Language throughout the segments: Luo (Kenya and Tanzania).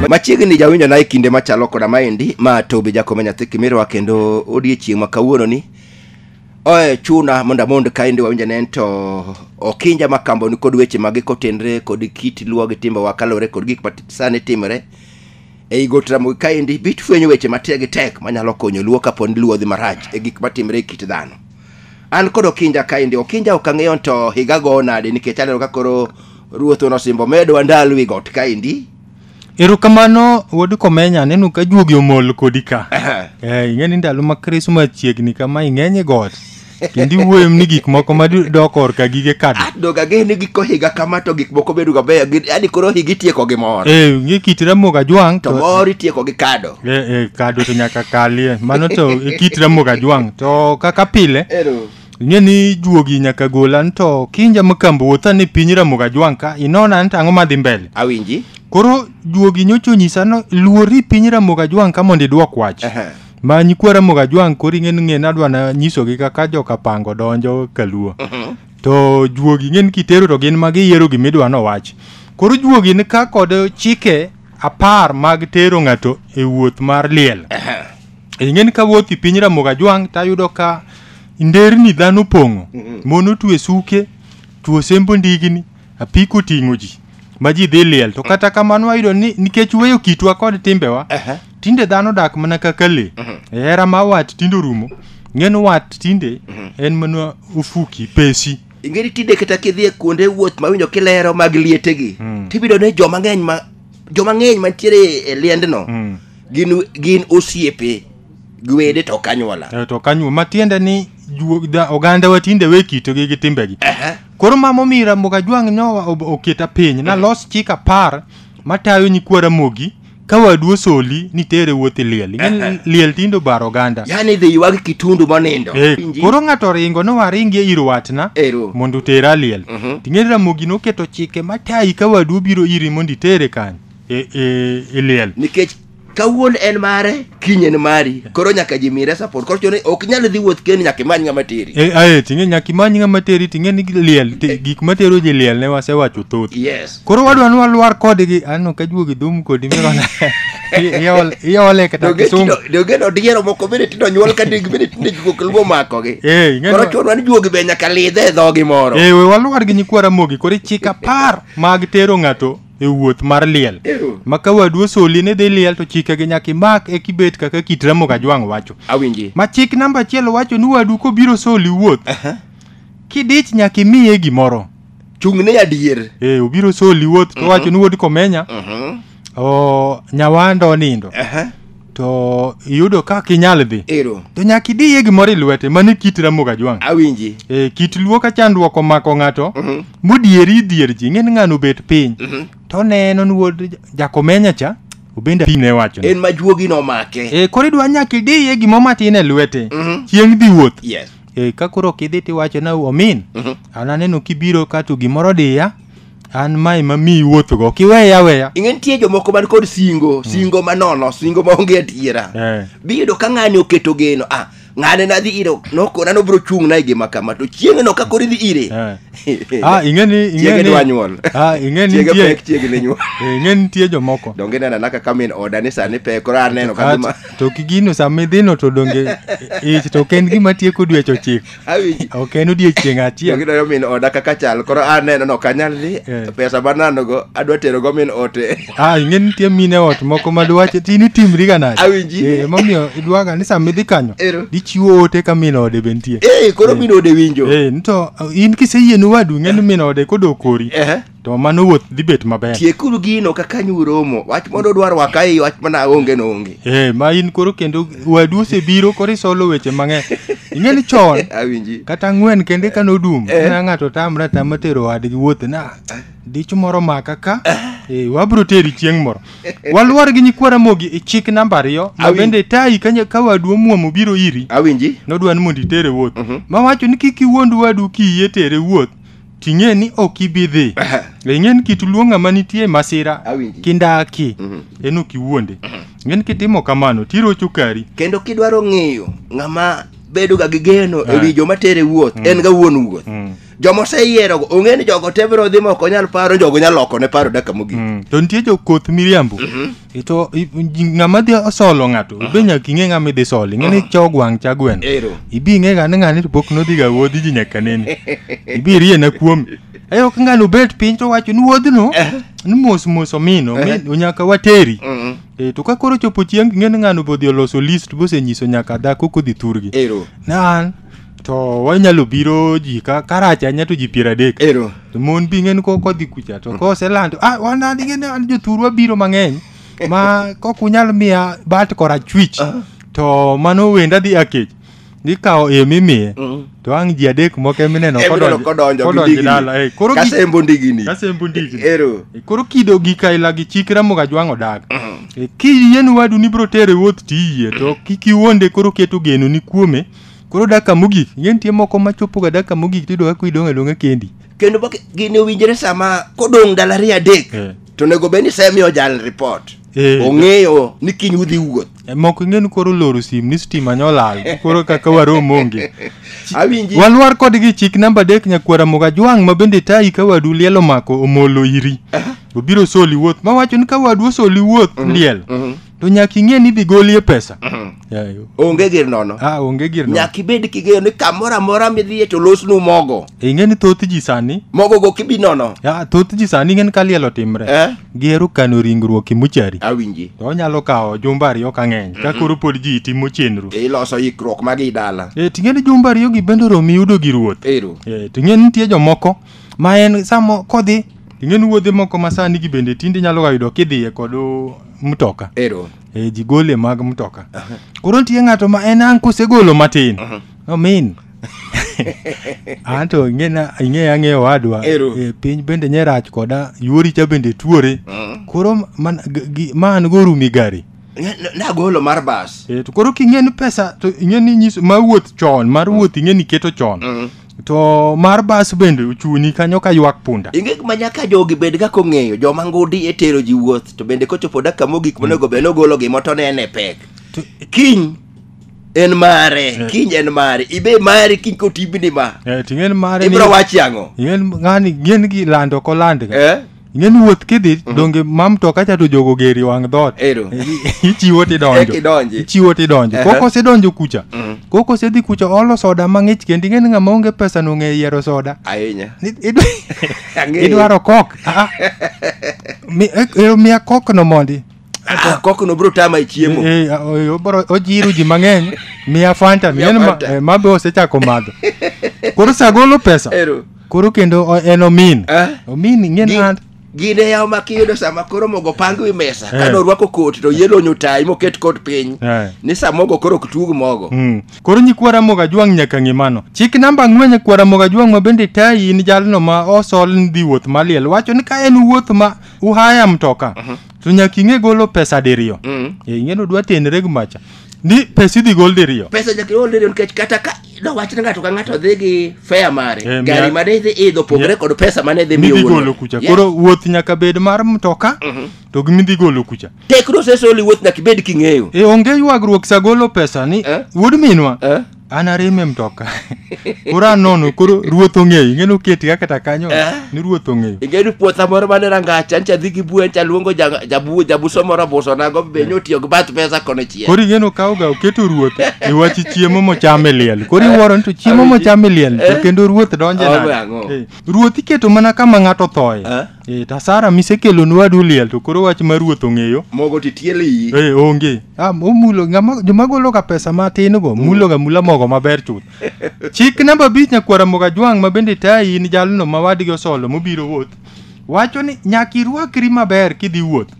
machiegni jawinjo na e kinde machalo koda maendi ma tobi jakome nyathi kimirwa kendo odiechieng' ma kawuononi oe chuna mondo amond kaendi wawinja ne en to okinja ma kamboni kod weche mage kotenre kod kit luwa gi timbewa kalore kod gik ma sani timore ei got ramogi kaendi bit fwenyo weche matek gi tek manyalo konyo luo kaponi luo dhi marach e gik matimre e kit dhano An kod Okinja kaendi. Okinja ok ang'eyo to higa go nade nikech aneno ka koro ruoth onosimbo medwa ndalo wi got kaendi. Erokamano wuod Komenya aneno ka juogi omol kodi ka. Eh, ing'e ni ndalo ma Krismas chiegni kama ing'eny e got. Kendo iwuoyo ni gik moko ma dok korka gige kad. Doga ge ni giko higa kama to gik moko bedo ga beyo. Yaani koro higa itieko gi mor. Eh, ing'e kit Ramogi Ajwang' To mor itieko gi kado. e, e, kado to nyaka kalie mano to e kit ramoga jwang to kaka pile Ero. ing'e ni juogi nyaka gola ni to kinja makambo wuotha ni piny ramoga jwang ka inona ni to ang'o madhi mbele Awinji. koro juogi nyocha onyisa no luori piny ramoga jwang ka mondo idwok wach Ehe. ma nyikwa ramoga jwang koro ing'e ni ng'e nadwa na nyisogi kaka joka pango donjo kaluo to juogi ing'e ni kitero to gin ma giyiero gimidwa nowach koro juogi ni ka kod chike apar mag tero ng'ato e wuoth mar liel ing'eni ka wuoth i piny ramogi ajwang' tayudo ka nderni dhano opong'o mon otwe suke tuo sembo ndigni apiko oting'o ji ma ji dhi liel to kata kamano wayudo ni nikech weyo kitwa kod timbewa tinde dhano dak mana kaka le e hera ma wat tinde orumo ng'en wat tinde en mana ofuki pesi ingeri tinde kata kidhi e kuonde wuoth ma winjo kilero mag liete gi mm. tibido ne joma ng'eny ma joma ng'eny mantiere e liendno mm. gin gin osiepe gwede to kanywola e, to kanywo matiende ni oganda wa tinde we kito gi gi timbe gi koro mamo mira mboga jwang nyowa oketa piny mm. na los chika par matayo nyikwara mogi ka wadu osoli ni tere wuoth iliel Ing'e liel tindo baro oganda yani idhi ywag kitundu monindo Eh, Inji. koro ng'ato oringo no waringi ir watna Ero. mondo otera liel Mhm. ting'e ramogi noketo chike matayi ka wadu obiro iri mondo itere kanyo e, e, e liel nikech kawuon en mare kiny en mari koro nyaka ji mire support koro chone ok nyal dhi wuoth kendi nyaka imany ng'ama teri e, ae ting'e nyaka imany ng'ama teri ting'e ni liel te, gik matero ji liel ne wasewacho thoth yes Koro wadwa ni walwar kodgi. Aneno ka juogi dhum kodi mirona. Iol iole kata Donge kisungu. tindo- donge no diero moko bende tindo nyuol ka deg bende tinde juok luo makogi Eh, ing'e koro ni- chonwa ni juogi be nyaka lidhe e dhogi moro Eh, we walwar gi nyikwa Ramogi koro ichik apar mag tero ng'ato e wuoth mar liel. Ew. Ma ka wadu osoli ni dhi liel to chikegi nyaka imak e kibet kaka kit Ramogi Ajwang' wacho. awinji Ma chik namba achiel wacho ni wadu kobiro soli wuoth. Kidich nyaka imiye gimoro. chung'ne ya dier e, obiro soli wuoth to wacho ni wuod komenya Mhm. o, nyawanda onindo Aha. to iyudo ka kinyal dhi ero to nyaka idiye gimoro e lwete mano e kit ramogi ajwang' awinji e, kit luo ka chandruok omako ng'ato Mhm. modieri dhier ji ng'eni ng'ano obet piny Mhm. to neno ni wuod jakomenya cha obende piny ne wacho en ma juogi nomake e, koro idwa nyaka idiye gimoro matin e lwete Mhm. chieng' dhi wuoth yes e, ka koro ok idhi tiwacho na omin an aneno kibiro ka to gimoro diya an mae ma mi iwuothogo ok iweya weya ing'e nitie jomoko man kod singo singo manono singo maonge adiera Eh. biyudo ka ng'ani oketo geno ah ng'ane nadhi ire nokona nobiro chung'na e gima kama to chieng'no ka koro idhi ire ah ing'e ni ing'e chiege ni dwa nyuol ah ing'e ni chiege nitie pek chiege ne nyuol eh, ing'e ni nitie jomoko donge nena naka kamin oda ni sani pek koro aneno ka Kata- gima to kigino sama idhino to donge ich to ok en gima tieko dweche ochiko Awinji. ok en odiechieng' Yo achiel gidwayo min oda kaka chal koro aneno no kanyal ni Eh. pesa mananogo adwa terogo min ote ah ing'e ni nitie mine ot moko ma dwache ti ni timriga nade Awinji. Eh, emomiyo idwaga ni sama idhi kanyo Ero. dichiwo ote ka min ode be nitie Eh, koro min ode winjo Eh, nito in kiseyie ni wadu ing'e ni min ode kodok kori Ehe. to mano wuoth dhi bet maber tiekuru gino kaka nyu romo wach mondo dwar waka ei wach mana onge no onge eh ma in koro kendo wadu osebiro koro isolo weche mang'eny ing'e ni chon awinji kata ang'wen kende ka nodum Eh. na ng'ato tamre atama tero wadgi wuoth na dich moro maka ka eh, wabiro teri chieng' moro waluor gi nyikwa ramogi e chik namba ariyo ma Awinj. bende tayi ka nya- ka wadu omuom obiro iri awinji nodwa ni mondo itere wuoth Mhm. mawacho ni kik iwuond wadu kiyie tere wuoth ting'e ni ok ibi dhi ing'e ni kit luo ng'ama nitie masira Awinji. kindaki en ok iwuonde ing'e ni kitimo kamano tirocho kari kendo kidwaro ng'eyo ng'ama bedoga gi geno e wi joma tere wuoth en ga wuon wuoth joma oseyierogo ong'e ni jogo te biro dhi ma ok onyal paro jogo nyalo lokone paro daka mogik Mm. to nitie jokoth miriambo ito i- i- ng'ama dhi osolo ng'ato be nyaka ing'e ng'ama idhi solo ing'e ni cho gwang' cha gweno Ero. ibi ing'e ga ni ng'ani to pok nodhi ga wuodhi ji nyaka nene ibi irie na kuomi e ok ng'ani obet piny to wacho ni wuodhno ni mos mos omino mi- nyaka wateri Mm. e to ka koro chopo chieng' ing'e ni ng'ani obodhi oloso list bosenyiso nyaka dhako kodhi thurgi Ero. na an to wanyalo biro ji ka karach anya to ji piero adek ero to mon bi ng'en ko kodhi kucha to koselando ah wan an ing'e ni an jothurwa biro mang'eny ma kok unyal miya bat korachwich to mano wenda dhi akech nikawo em imiye Mm. to ang' ji adek moko emineno Emineno kodonjo gi kodonjo ndigni. dala eh, koro gi- kasembo ndigini kasembo ndigni. ero Eh, koro kido gi kaila gi chik ramoga jwang' odag Eh, kiyie ni wadu ni biro tere wuoth tiyie to kik iwonde koro keto geno ni kuome Koro daka mogik, ing'e nitie moko ma chopoga daka mogik tiyudo kaka idong' adong'a kendi. kendo bak- gini owinjore sama kodong' ndalo ariyo adek Eh. to onego bed ni semiyo jal report Eh. ong'eyo ni kiny udhi wuoth Eh, Moko ing'e ni koro loro sim ni stima nyolal, koro kaka warom onge. awinji Walwar kodgi chik namba adek nyakwara moga jwang' ma bende tayi ka wadu liel omako omolo iri. Obiro soli wuoth, ma wacho ni ka wadu osoli wuoth liel. to nyaka ing'e ni idhi golie pesa Yayo. onge gir nono ah onge gir no nyaka ibed king'eyo ni kamoro amora midhiye to losnu mogo ing'e ni thoth ji sani mogo go kibi nono ah, thoth ji sani ing'e ni ka liel otimre Eh? gihero kano ringruok e mochari awinji to onyalo kawo jumbe ariyo ka ng'eny ka koro pod ji timo chenro iloso ikruok magi dala e ting'e ni jumbe ariyogi bende oromi yudo gi ruoth ero e ting'e ni nitie jomoko ma en samo kodhi ing'e ni wuodhe moko ma sani gi bende tinde inyalo ga yudo kidhiye kod uh, mtoka Ero. e, ji gole mag mtoka koro nitie ng'ato ma en ang' kosegolo matin omin anto ing'ena- ing'eya ang'eya owadwa Ero. e, piny bende nye rach koda yuori cha bende tuore koro man- g- gi- ma an go rumi gari N- Nagolo mar bas. e, to koro king'e ni pesa to ing'e ni nyiso ma wuoth chon mar wuoth ing'e ni keto chon to mar bas bende ochuni kanyo ka ywak punda inge ma nyaka jogi bed kaka ong'eyo joma ngudi e tero ji wuoth to bende kochopo dakika mogik monego bed nogolo gima to nene pek kiny en mare kiny en mare ibe mare kiny kotibni ma Eh, ting'en mare ni- ibro wachi ang'o ing'en ng'ani ng'en gi lando kolando ga eh ing'e ni wuoth kidhi donge ma mtoka cha to jogo geri wang' dhoot Ero. ichiwo Eka tidonjo idonji. ichiwo tidonjo Aha. koko osedonjo kucha koko osedhi kucha oolo soda mang'ich kendo ing'e ni ng'ama onge pesa nong'e yiero soda Ahinya. Ni- idwa- Ang'eyo. idwaro kok Ah. Mi- eh, eh, miya kokno mondi Ah, kokno bro tama e chiemo Eh, eh, oy- obro- ojiru ji mang'eny miya fanta Miya miya Fanta. ma, eh, ma be osechako madho koro sagolo pesa Ero. koro kendo o- en omin Ah. omin Gi- ing'en hand gine yaw ma kiyudo sama koro mogo pang wi mesa Eh. kane orwako koti to yelo nyotai moket kot piny Eh. ni sa mogo koro ok tug mogo Mm. koro nyikwa ramogo ajwang' nyaka ng'e mano chik namba ang'wen nyikwa ramogo ajwang' ma bende tayi in jalno ma osol ni dhi wuoth maliel wacho ni ka en wuoth ma uhaya mtoka to nyaka ing'e golo pesa diriyo Mm. Eh, ing'e ni odwa tenre gi macha ni pesa idhi gol diriyo pesa nyaka iol diriyo nikech kata ka dowach ni ng'ato ka ng'ato dhi gi fea mare Eh, gari mia- mane idhi idho pogre kod pesa mane idhi miyo midhi wuon golo mare. kucha Yes. koro wuoth nyaka bed mar mtoka to gi midhi golo kucha tekno sesoli wuoth nyaka ibed king'eyo e onge ywagruok sa golo pesa ni Eh? wuod minwa Eh? an ariembe mtoka koro anono koro ruoth ong'eyo ing'eni oketi ka kata kanyo Eh. ni ruoth ong'eyo ing'eni puotha moro mane rangach ancha dhi gi bue ancha luongo ja- jabu- jabuso moro abuso nago be nyotiyo gi bath pesa kono chien koro ing'eni okawoga oketo ruoth e wach chiemo mocham e liel koro iwuoro ni to chiemo mocham e liel to kendo ruoth donje Awe nade ang'o? Eh, ruoth iketo mana kama ng'ato thoye Eh? Eh, tasara misekelo ni wadu liel to koro wach mar ruoth ong'eyo. Mogo to itiele iyi. Eh, onge. Ah, omulo ng'ama joma golo ga pesa matin go, mulo ga mula mogo maber chuth. Chik namba abich nyakwara moga jwang' ma bende tayi in jalno ma wadgi osolo mobiro wuoth. Wacho ni nyaka irwakri maber kidhi wuoth.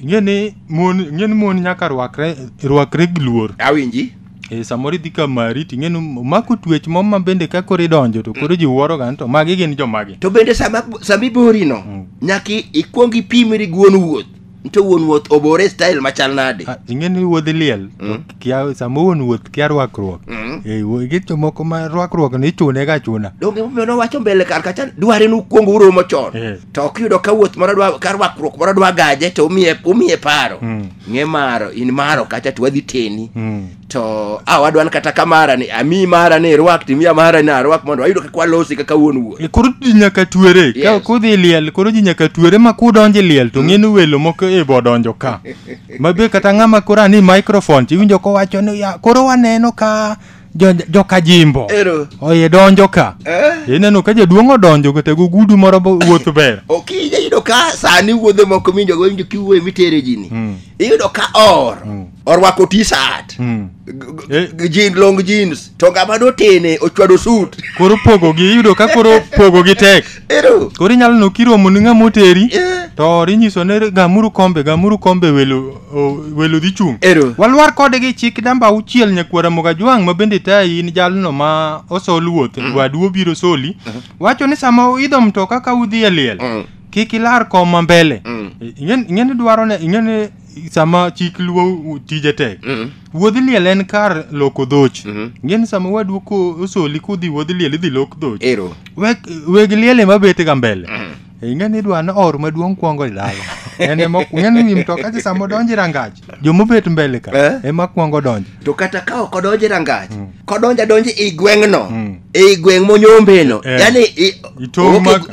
ing'e ni mon ing'e ni mon nyaka rwakre rwakre gi luor awinji e, samoro idhi ka mari ting'e ni omako twech mo ma bende ka koro idonjo to koro ji wuoroga ni to magi gin jomagi to bende sama sama iborino Mm. nyaka i- ikwong ipimri gi wuon wuoth nto wuon wuoth obore style machal nade Ah, ing'e ni wuodhi liel to kia sama wuon wuoth kia rwakruok Mm. Eh, wo- gi jomoko ma rwakruok ni ichune ga chuna donge momiyo nowacho mbele kar kacha dware ni ukwong uromo chon Eh. to ok yudo ka wuoth moro dwa ka rwakruok moro dwa gaje to umiye umiye paro Mm. ng'e maro in maro kacha to wadhi teni Mm. to a wadwan kata ka mara ni ami mara ni irwak timiya mara ni arwak mondo wayudo kaka walosi kaka wuon wuoth E, koro ji nyaka tuere ka Yes. kudhi liel koro ji nyaka tuere ma kudonje liel to ng'eni welo moko e bodonjo ka Mabe kata ng'ama koro ani microphone tiwinjo kowacho ni ya koro waneno ka jo- joka jimbo Ero. oye donjo ka Eh? ineno ka jaduong' odonjo kata gogudu moro bo- wuoth ber Okija yudo ka sani wuodhe moko minjo go winjo kiwuoye mitere jini. Mm. Iyudo ka or. Mm. Orwako t-shirt. Mm. G- g- Eh. g- Jean long jeans. To ngama dotene ochwado suit. koro pogogi iyudo ka koro pogogi tek Ero. Koro inyalo neno kiromo ni ng'ama oteri Eh. to inyiso ni gamuru kombe gamuru kombe welo o- welo dhi chung'. Ero. Walwar kode gi chik namba auchiel nyakwara Mogajwang' ma bende tayi in jalno ma osol wuoth wadu obiro soli wacho ni sama uidho mtoka ka udhi e liel Mm. kik ilar koma mbele Mm. ing'e ing'e ni dwaro ne ing'e ni sama chik luo tije tek Mm. wuodh liel en kar loko dhoch Mhm. ngeni sama wadu ko osoli kudhi wuodh liel idhi lok dhoch ero weg weg liel ema bet ga mbele ingeni idwa ni or maduong' kwongo idalo en ema ngeni wi mtoka cha sama odonje rangach jomobet mbele ka Eh. ema kwongo donjo to kata ka ok odonje rangach mm. kodonjo adonjo i gweng'no mm. i gweng' monyombeno eh. yani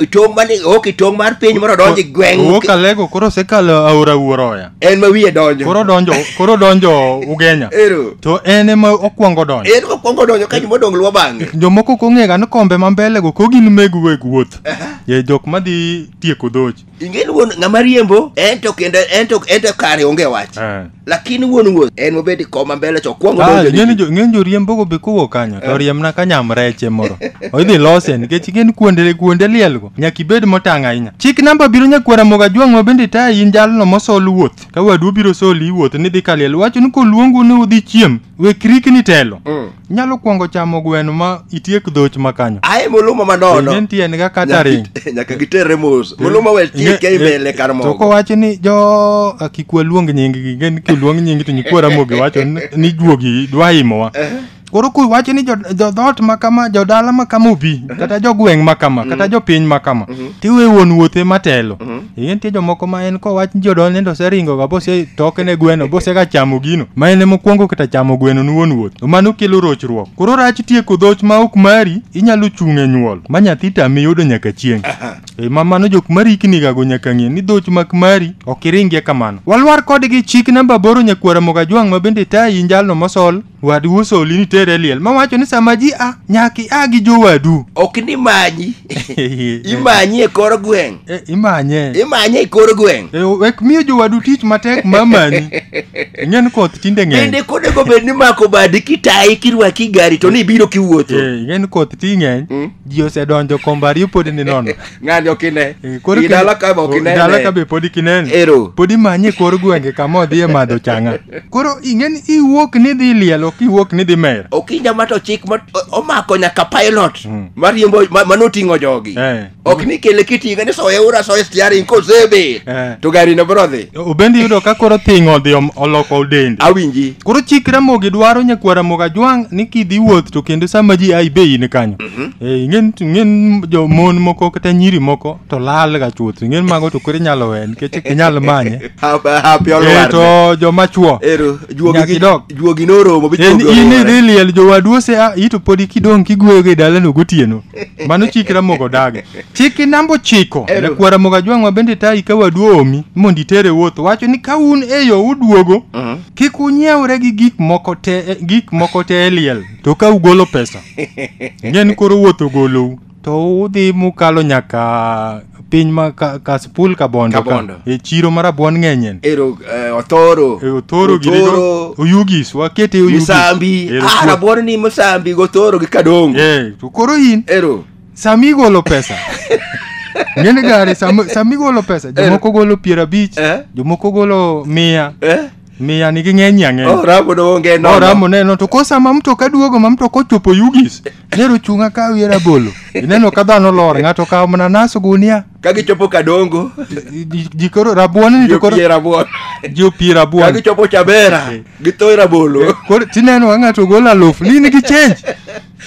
itong' mani ok itong' mar piny moro odonjo i gweng' wuok alego koro osekalo aora wuoroya en ma wiye donjo koro donjo koro donjo ugenya to en ema okwongo donjo en okwongo donjo ka joma odong' luwo bang'e jomoko kong'ega ni kombe ma mbelego ko gin meg weg wuoth ye jok madhi tieko dhoch ingeni wuon ng'ama riembo en to kendo en to en to kare onge wach Eh. lakini wuon wuoth en mobedi koma mbele to kwongo Ah, donjo ng'eny ni- jo- ng'eny joriembogo be kowuok kanyo to riemna ka nyam reche moro idhi lose nikech ing'eni kuonde kuonde lielgo nyaka ibed motang' ahinya chik namba biro nyakwara moga jwang' ma bende tayi in jalno mosol wuoth ka wadu obiro soli iwuoth nidhi ka liel wacho ni koluongu ni udhi chiem wek rikni telo Mm. nyalo kwongo chamo gweno ma itiek dhoch ma kanyo aye muluma manono en tiende ga kata Nyaka ring git- nyaka gitere mos muluma we tieke Nge- imele kar to mogo kowacho ni jo ah, kik waluong nyinggi gen kiluong nyingi to nyikwa ramogi wacho ni- ni juogi dwa imowa koro kuwacho ni jo- jodhoot ma kama jodala ma kama obi kata jogweng' ma kama kata jopiny ma kama tiwe wuon wuothe matelo Ee, nitie jomoko ma en kowach ni jodol nende oseringoga bose toke ne gweno bose ka chamo gino ma en mokwongo kata chamo gweno ni wuon wuoth to mano kelo rochruok koro rach tieko dhoch ma ok mari inyalo chung' e nyuol ma nyathi tami yudo nyaka chieng' e ma mano jok mariknigago nyaka ng'e ni dhoch mak mari ok iringie kamano walwar kodgi chik namba aboro nyakwara mogajwang' ma bende tayi njalno mosol Wad uso oli ni tere liel. Ma wacho ni sama ji a nyaki a gi jowadu. Ok ni manyi. Imanyi e kor gweng'. Eh, imanye. Imanye e kor gweng'. Eh, wek miyo jowadu tich matek mamani. Ng'en koth tinde ng'eny. Bende kode go bed ni mako badi kitayi kirwaki gari to ni ibiro kiwuotho. Eh, ng'en koth ti ng'eny. Mm. Ji osedonjo kombari pod ni nono. ng'ani ok ine Eh, koro I dala ka be ok kendo- dala ka inene be pod kinene Ero. pod imanye kor gwenge kama odhi e madho changa koro ing'eni iwuok ni dhi liel ok iwuok ni dhi mer okinja ma to chik ma o- omako nyaka pilot mariembo ma- manoting'o jogi Eh. ok ni kele kiting'e ni soye ura soye stiaring kosebe Eh. to garino biro dhi obendi yudo ka koro thing' odhi om- oloko dende awinji koro chik ramogi dwaro nyakwara moga jwang' ni kidhi wuoth to kendo sama ji ai be in kanyo Hmm? Eh, ingen ingen jo mon moko kata nyiri moko to lal ga chuth ingen mago to koro inyalo we nikech ok inyal manye eh, to joma chuo juogi noromo eh, in idhi liel jowadu ose ah, ito podi kidong' kigweyogo e dalano gotieno mano chik ramogo dagi chik inambo chiko nakwara mogo ajwang'wa bende tayi ka wadu oomi mondo itere wuoth wacho ni ka un e yo uduogo uh-huh. kik unyiewre gi gik moko te e liel to ka ugolo pesa ing'e ni koro wuoth ogolou to udhi mukalo nyaka piny ma ka- kasipul kabondo ka Kabondo. e chiro mar abuon ng'enyen ero eh, othoro E, othoro girigo Othoro, oyugis wakete oyugis musambi Ero, ah, rabuon ni musambi gothoro gi kadongo Eh, to koro in ero sami igolo pesa ng'eni gari sami sami igolo pesa jomoko golo piero abich Eh. jomoko golo mia eh? Miya nigi ng'eny ang'eny. Oh, ramo no onge no. Oramo neno to kosa ma mtoka duogo ma mtoka ochopo Yugis. Nero chunga ka wiye rabolo. Ineno ka dhano lor ng'ato kawo mana nas gunia. Ka gichopo Kadongo, Ji- Ji koro rabuon ni to koro giopie rabuon. ji opie Ka rabuon. gichopo Chabera, githoe rabolo. Koro tineno ka ng'ato golo aluf ni nigi change.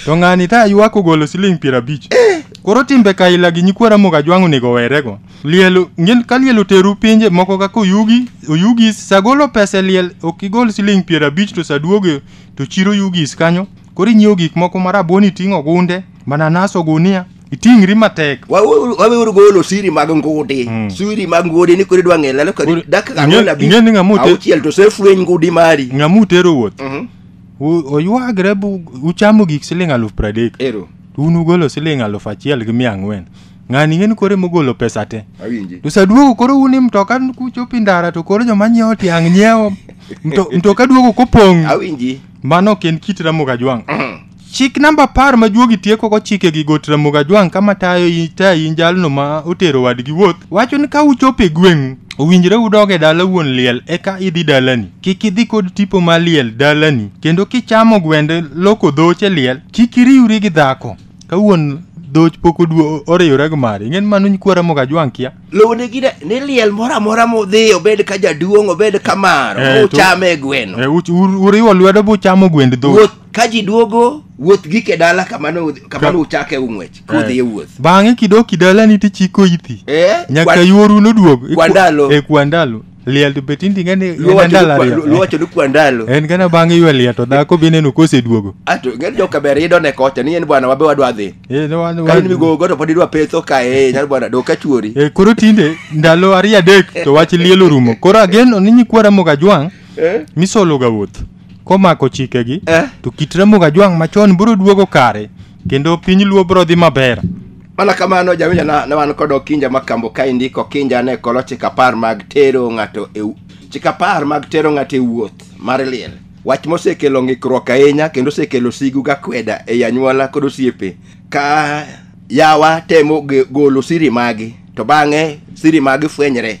To ng'ani ta ywak ogolo siling piero abich. Koro timbe kaila gi nyikwa Ramogi Ajwang' onego werego. Liel, ngin ka liel oteru pinje moko kaka Oyugi, Oyugis, sagolo pesa e liel ok igol siling piero abich to saduoge to chiro Oyugis kanyo. Koro inyiewo gik moko ma rabuon iting'o gunde, mananas ogunia, iting'ri matek. Waweuru waweuru golo siri mag ngudi. Siri mag ngudi ni kore dwa ng'e lalo ka Koro, dakika ing'e- ang'wen abich. ing'e ni ng'ama ote- Auchiel to sefweny ngudi mari. Ng'ama utero wuoth, Mhm. u- oywagre bu uchamo gik siling aluf pradek. Ero. un ugolo siling aluf achiel gi mia ang'wen ng'ani ing'eni koro emogolo pesa te awinji to saduogo koro un ni mtoka kuchopo i ndara to koro joma nyiewo tiang' nyiewo Mto- mtoka duogo kopong' awinji mano ok en kit ramoga jwang' chik namba apar ma juogi tieko kochike gi got ramoga jwang' kama tayo i- tayi in jalno ma otero wadgi wuoth wacho ni ka uchopo e gweng'u owinjre udog e dala wuon liel eka idhi dalani kik idhi kod tipo ma liel dalani kendo kichamo gwende loko dhoche liel kik iriwri gi dhako ka wuon dhoch pok oduo oriyore gi mari ing'e ni mano nyikwa ramo ga jwang' kia lowne gi ne- ni liel moro amora modhi obed ka jaduong' obed ka maro Eh, to- uchame e gweno Eh, uch- ur- uriwo lwedo buchamo gwend dhoch wuoth ka ji duogo wuoth gike dala kamano udhi- kamano uchake ung'wech kudhi e wuoth bang'e kidoki dalani tichiko ithi Eh, nyaka kwa- yuoru noduog kwa ndalo. e kwa ndalo liel to be tindi ng'ani en Luwacho andalo ni kwa- ariyo. luwacho ni kwa ndalo en kana bang' ywe liel to dhako be ineno koseduogo ato ng'ani joka ber idho ne kocha ni en bwana wabe wadwa dhi Eh, no, wan- ka wan- in migogo to pod idwa petho ka e nyar bwana dok ka chuori Eh, koro tinde ndalo ariyo adek to wach liel orumo koro agen ni nyikwa ramogi ajwang' Eh? misologa wuoth komako chikegi Eh. to kit ramogi ajwang' machon biro duogo kare kendo piny luo bro dhi maber mana kamano jawinja na, na wan kod okinja ma kambo ka indiko okinja ne kolo chik apar mag tero ng'ato e wu- chik apar mag tero ng'ato e wuoth mar liel wach mosekelo ng'ikruok ahinya kendo osekelo sigu ga kweda ei anyuola kod osiepe ka yawa temo ge- golo siri magi to bang'e siri magi fwenyre